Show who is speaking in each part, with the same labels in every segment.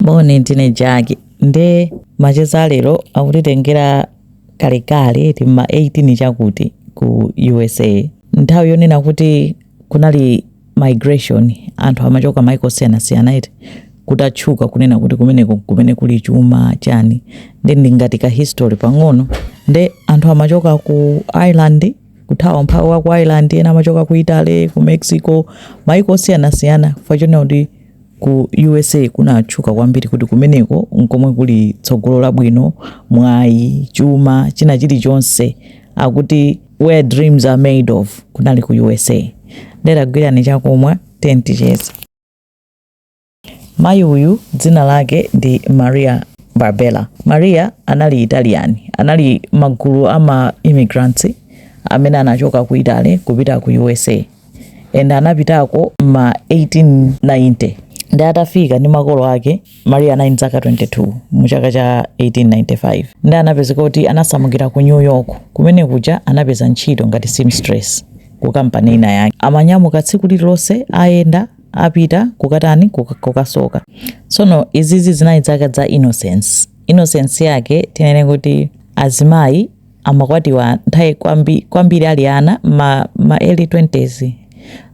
Speaker 1: moni ndine jaki nde macheza alero akutitengera kalekale mma 18 chakuti ku usa nthawi yonena kuti kunali migration anthu amachoka maiko osiyanasiyana iti kutatchuka kunena kuti kumeneko kumene kuli chuma chani nde ndingati ka history pang'ono nde anthu amachoka ku ireland kuthawa umphawi wa ku ireland ena amachoka ku italy ku mexico maiko osiyanasiyana chifukwa chonena kuti Ku usa kunatchuka kwambiri kuti kumeneko n'komwe kuli tsogolo labwino, mwayi, chuma, china chilichonse. Akuti where dreams are made of kunali ku usa. Nde dagwirani chakumwa, tiyeni ticheze. Mayi uyu dzina lake ndi Maria Barbella. Maria anali Italian. Anali magulu a ma immigrants amene anachoka ku Italy kupita ku usa. and anapitako ma 1890 ndi atafika ndi makolo ake maria anali ndi zaka 22 mu chaka cha 1895 ndi anapezeka kuti anasamukira ku new york kumene kuja anapeza ntchito ngati seamstress ku kampani ina yake amanyamuka tsiku lililonse ayenda apita kukatani kuka- kukasoka tsono izizi zinali zaka za innocence innocence yake tinene kuti azimayi amakwatiwa nthawi kwambi, kwambiri ali ana ma, ma early 20s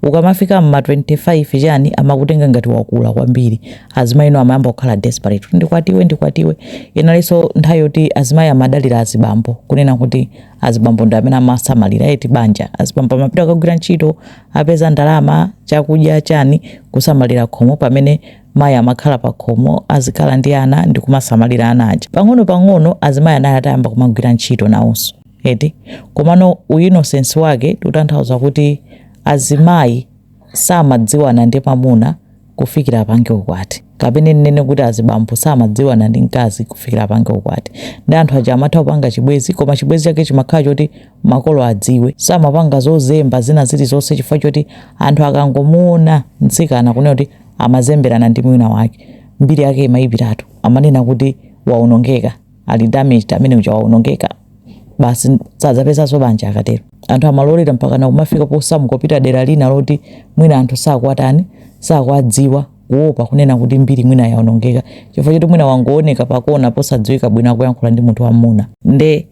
Speaker 1: ukamafika mma 25 chani amakutenga ngati wakula kwambiri azimayi ino amayamba kukhala desperate kuti ndikwatiwe ndikwatiwe inalinso nthawi yoti azimayi amadalira azibambo kunena kuti azibambo ndi amene amasamalira eti banja azibambo amapita kukagwira ntchito apeza ndalama chakudya chani kusamalira khomo pamene Mayi amakhala pakhomo, azikhala ndi ana ndi kumasamalira ana aja. Pang'onopang'ono azimayi anali atayamba kumagwira ntchito nawonso, eti? Komano u innocence wake tikutanthauza kuti azimayi samadziwana ndi mamuna kufikira apange ukwati. Kapene nnene kuti azibambo samadziwana ndi mkazi kufikira apange ukwati. Nde anthu aja amatha kupanga chibwenzi koma chibwenzi chake chimakhala choti makolo adziwe. Samapanga zozemba zina zilizonse chifukwa choti anthu akangomuona mtsikana kunena kuti. amazemberana ndi mwamuna wake mbiri yake imayipiratu amanena kuti waonongeka ali damaged amene uja waonongeka basi sadzapezanso banja akatero anthu amalolera mpaka nakumafika posamuka kupita dera lina loti mwina anthu sakwatani sakwadziwa kuopa kunena kuti mbiri mwina yaonongeka chifukwa choti mwina wangooneka pakona posadziwika bwino akuyankhula ndi munthu wamuna nde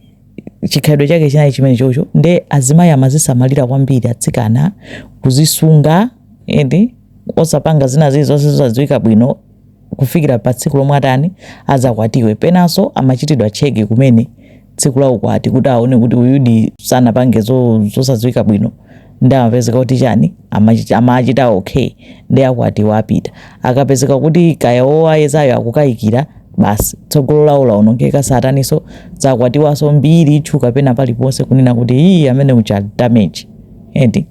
Speaker 1: chikhalidwe chake chinali chimene chocho nde azimayi amazisamalira kwambiri atsikana kuzisunga eti osapanga zina zilizonse zosadziwika bwino kufikira pa tsiku lomwe atani adzakwatiwe penanso amachitidwa check kumene tsiku la ukwati kuti aone kuti uyudi sanapange zo- zosadziwika bwino nde akapezeka kuti chani amachi- amachita okay nde akwatiwa apita akapezeka kuti kaya owayezayo akukayikira basi tsogolo lawo laonongeka satanso sadzakwatiwanso mbiri itchuka pena paliponse kunena kuti iyi amene uja ndi wa damage eti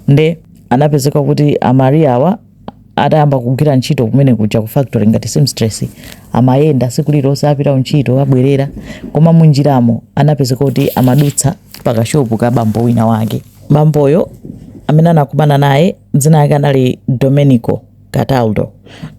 Speaker 1: nde anapezeka kuti a Maria awa atayamba kugwira ntchito kumene kuja ku factory ngati seamstress amayenda tsiku lililonse apita kuntchito abwerera koma munjiramo anapezeka kuti amadutsa pakashopu ka bambo wina wake bamboyo amene anakumana naye dzina yake anali Domenico Cataldo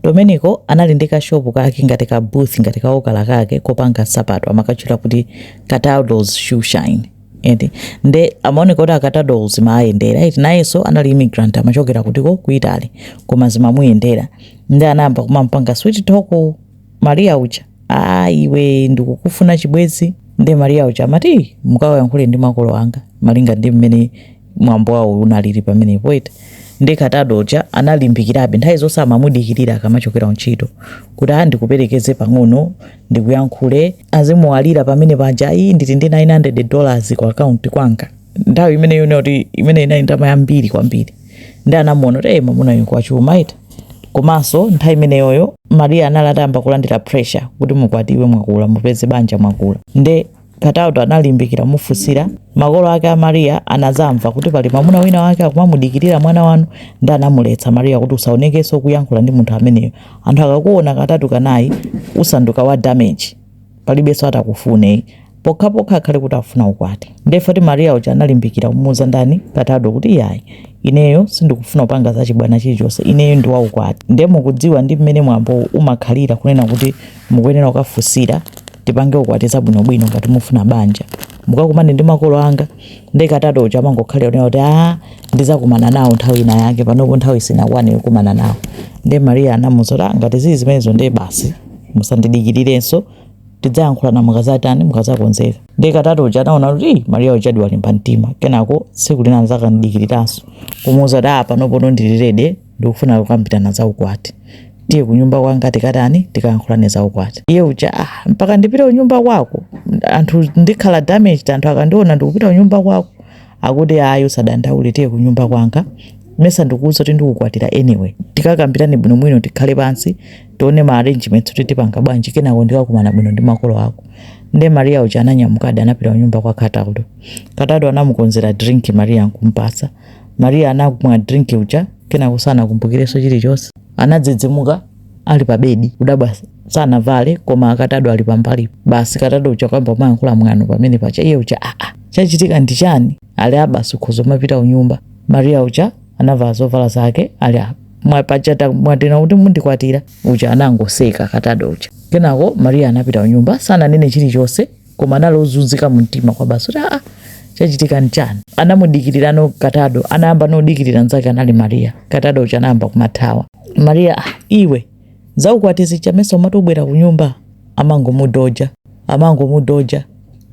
Speaker 1: Domenico anali ndi kashopu kake ngati ka booth ngati kaokala kake kopanga nsapato amakatchula kuti Cataldo's Shoe Shine eti nde amaoneka kuti a Cataldo zimaayendera eti nayenso anali immigrant amachokera kudziko ku Italy koma zimamuyendera nde anayamba kumampanga sweet talk Maria uja aa iwe ndikukufuna chibwezi nde Maria uja amati mukawayankhule ndi makolo anga malinga ndi mmene mwambo wawo unalili pamenepo eti nde Cataldo uja analimbikirabe nthawi zonse amamudikirira akamachokera kuntchito kuti a ndikuperekeze pang'ono ndikuyankhule azimuwalira pamene paja ayi ndili ndi 900 dollars ku akaunti kwanga nthawi imeneyo ndiye kuti imene inali ndalama yambiri kwambiri nde anamuona kuti hey, mamuna uyu ngwachuma eti komanso nthawi imeneyoyo Maria anali atayamba kulandira pressure kuti mukwatiwe mwakula mupeze banja mwakula nde Cataldo analimbikira kumufunsira makolo ake a Maria anazamva kuti pali mamuna wina wake akumamudikirira mwana wanu nde anamuletsa Maria kuti usaonekenso ukuyankhula ndi munthu ameneyo anthu akakuona katatu kanayi usanduka wa damage palibenso atakufune pokhapokha akhale kuti afuna ukwati nde kuti Maria uja analimbikira kumuuza ndani Cataldo kuti yayi ineyo sindikufuna kupanga za chibwana chilichonse ineyo ndi waukwati nde mukudziwa ndi mmene mwambo umakhalira kunena kuti mukuyenera kukafunsira tipange ukwati zabwinobwino ngati mufuna banja mukakumane ndi makolo anga nde Cataldo uja amangokhalira kunena kuti a ndizakumana nawo nthawi ina yake panopo nthawi sinakwane yokumana nawo nde Maria anamuuza kuti "Ah, ngati zili zimenezo nde basi musandidikirirenso tidzayankhulana mukazatani mukazakonzeka nde Cataldo uja anaona kuti "Ih, Maria ujadi walimba mtima kenako tsiku lina anadzakamudikiriranso kumuuza kuti a panopo ndili ready ndikufuna kukambirana za ukwati tiye kunyumba kwanga tikatani tikayankhulane za ukwati iye uja ah, mpaka ndipite kunyumba kwako anthu ndikhala damaged anthu akandiona ndikupita kunyumba kwako akuti ayi usadandaule tiye kunyumba kwanga mesa ndikuuza kuti ndikukwatira anyway tikakambirane bwinobwino tikhale pansi tione ma arrangements kuti tipanga bwanji kenako ndikakumana bwino ndi makolo ako nde Maria uja ananyamukadi anapita kunyumba kwa Cataldo Cataldo anamukonzera drink Maria nkumpasa Mariya anakumwa drink uja kenako sanakumbukirenso chilichonse. Anadzidzimuka ali pa bedi kudabwa sanavale koma akatado ali pambali basi katado uja kuyamba kumayankhula mwano pamenepaja iye uja aa ah, ah, chachitika ndi chani ati aa basi ukhoza kumapita kunyumba Mariya uja anavala zovala zake ati apa mwapangazi mwati kuti mundikwatira uja anangoseka katado uja kenako Mariya anapita kunyumba sananene chilichonse koma anali ozunzika mu mtima kwabasi kuti aa chachitika nchani anamudikirirano katado anayambano kudikirira nzake anali mariya katado uja anayamba kumamuthawa mariya ah, iwe zaukwati zija mesa umati ubwera kunyumba amangomudoja amangomudoja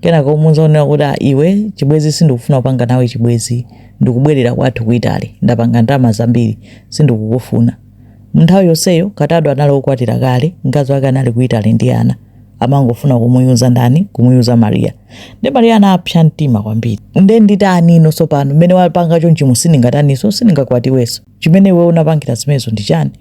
Speaker 1: kenaka kumuuza kunena kuti ah, iwe chibwezi sindikufuna kupanga nawe chibwezi ndikubwerera kwathu ku itali ndapanga ndalama zambiri sindikukufuna mu nthawi yonseyo katado anali okwatira kale mkazi wake anali ku itali ndi ana amangofuna kumuyuza ndani kumuyuza mariya nde mariya anapsa mtima kwambiri nde nditanino tsopano mmene wapanga chonchimu sindingataniso sindingakwatiweso chimene iwe unapangira zimenezo ndi chani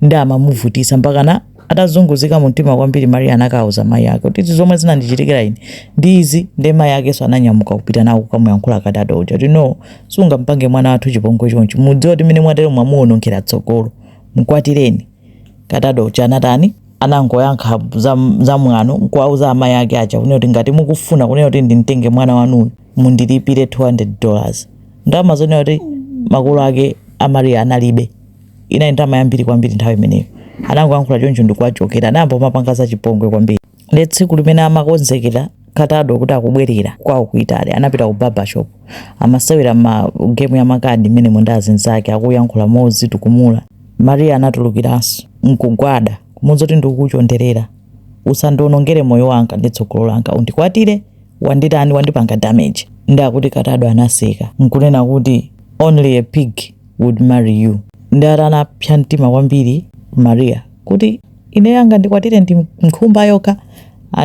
Speaker 1: nde amamuvutisa mpakana atazunguzika mumtima kwambiri mariya anakauza mayi ake kuti izi zomwe zinandichitikira ine ndi izi nde mayi akenso ananyamuka kupita nawo kukamuyankhula katado uja kuti no sungampange mwana wathu chipongwe chonchi mudziwe kuti mmene mwatero mwamuwonongera tsogolo mkwatireni Katado uja anatani? Anangoyankha za, za mwano nkuwauza amayi ake aja kunena kuti ngati mukufuna kunena kuti ndimtenge mwana wanuyu mundilipire 200 dollars. Ndalama zoonena kuti makolo ake a Maria analibe inali ndalama yambiri kwambiri nthawi imeneyo. Anangoyankhula choncho ndikuwachokera, anayamba kumapanga zachipongwe kwambiri. nde tsiku limene amakonzekera katado kuti akubwerera kwawo ku italy anapita ku barbershop amasewera ma game ya makadi mmenemo ndi azinzake akuyankhula mozitukumula maria anatulukiranso nkugwada kumuuza kuti ndikukuchonderera usandionongere moyo wanga ndi tsogolo langa undikwatire wanditani wandipanga damage nde akuti katado anaseka nkunena kuti only a pig would marry you nde ati anapsa mtima kwambiri maria kuti Ineyo angandikwatire ndi nkhumba yokha?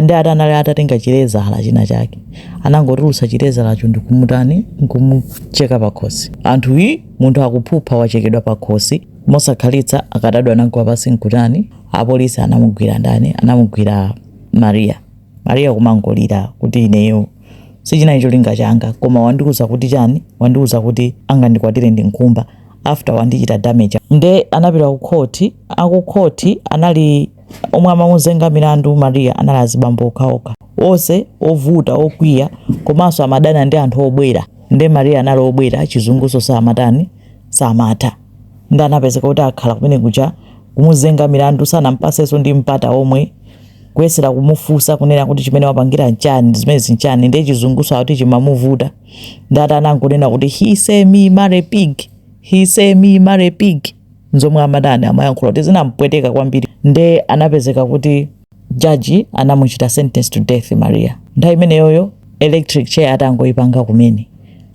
Speaker 1: Nde ati anali atatenga chilezala china chake. Anangotulutsa chilezalacho ndi kumutani, n'kumucheka pakhosi. Anthu, Hi! Munthu akuphupha wachekedwa pakhosi! Mosakhalitsa, akatado anagwa pansi n'kutani? Apolisi anamugwira ndani? Anamugwira Maria. Maria kumangolira kuti, Ineyo! sichinali cholinga changa koma wandiuza kuti chani wandiuza kuti angandikwatire ndi nkhumba after wandichita damage nde anapita ku khoti akukhoti anali omwe amamuzenga milandu maria anali azibambo okhaokha onse ovuta okwiya komanso amadana ndi anthu obwera nde maria anali obwera chizunguso samatani samatha nde anapezeka kuti akhala kumene kuja kumuzenga milandu sanampasenso ndi mpata omwe kuyesera kumufunsa kunena kuti chimene wapangira nchani zimenezi nchani ndiye chizungunso akuti chimamuvuta nde ati anangonena kuti he say me marry pig he say me marry pig nzomwe amatani amayankhula kuti zinampweteka kwambiri nde anapezeka kuti jaji anamuchita sentence to death maria nthawi imeneyoyo electric chair atangoyipanga kumene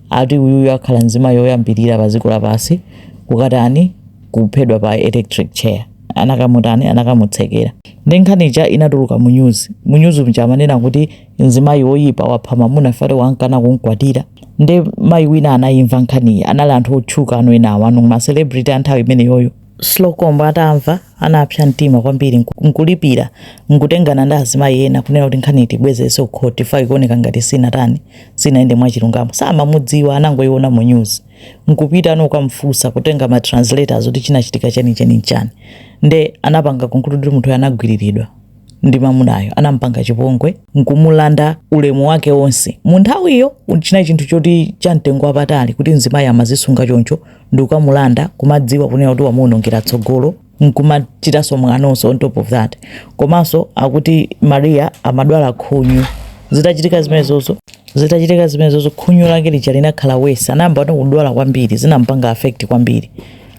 Speaker 1: ati uyuyu akhala mzimayi oyambirira pa dziko lapansi kukatani kuphedwa pa electric chair anakamutani anakamutsekera nde nkhani ija inatuluka mu news mu news mja amanena kuti mzimayi woyipa wapha mamuna chifukwa ati wankana kumkwatira nde mayi wina anayimva nkhaniyi anali anthu otchuka ena ma celebrity a nthawi imeneyoyo Slocomb atamva anapsa mtima kwambiri nku- nkulipira nkutengana ndi azimayi ena kunena kuti nkhani tibwezenso kukhoti chifukwa ikuoneka ngati sinatani sinayende mwachilungamo samamudziwa anangoyiona mu news nkupita nkukamfunsa kutenga ma translators kuti chinachitika chenicheni nchani nde anapanga conclude kuti munthuyo anagwiriridwa ndi mamunayo anampanga chipongwe nkumulanda ulemu wake wonse mu nthawiyo chinali chinthu choti cha mtengo wapatali kuti mzimayi amazisunga choncho nde ukamulanda kumadziwa kunena kuti wamuonongera tsogolo nkumachitanso mwanonso on top of that komanso akuti maria amadwala khunyu zitachitika zimenezozo zitachitika zimenezozo khunyu lake lija linakhala worse anayamba kuti kudwala kwambiri zinampanga affect kwambiri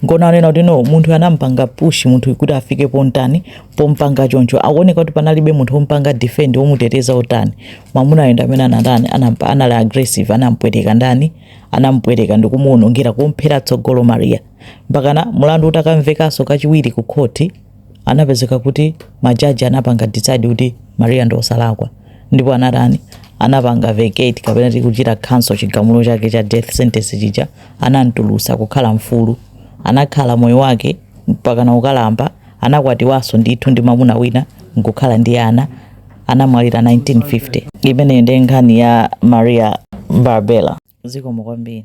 Speaker 1: nkuona kunena kuti no munthu anampanga push munthu kuti afike potani popanga choncho akuoneka kuti panalibe munthu wompanga defend womuteteza otani mwamuna nde amene anatani anali aggressive anampweteka ndani anampweteka ndikumuwonongera kumphera tsogolo maria mpakana mulandu utakamvekanso kachiwiri ku court anapezeka kuti majaji anapanga decide kuti maria ndi osalakwa ndipo anatani anapanga vacate kapena kuti kuchita cancel chigamulo chake cha death sentence chija anamtulusa kukhala mfulu anakhala moyo wake mpakana ukalamba anakwatiwanso ndithu ndi mamuna wina nkukhala ndi ana anamwalira 1950 imeneyo ndi nkhani ya maria Barbella zikomo kwambiri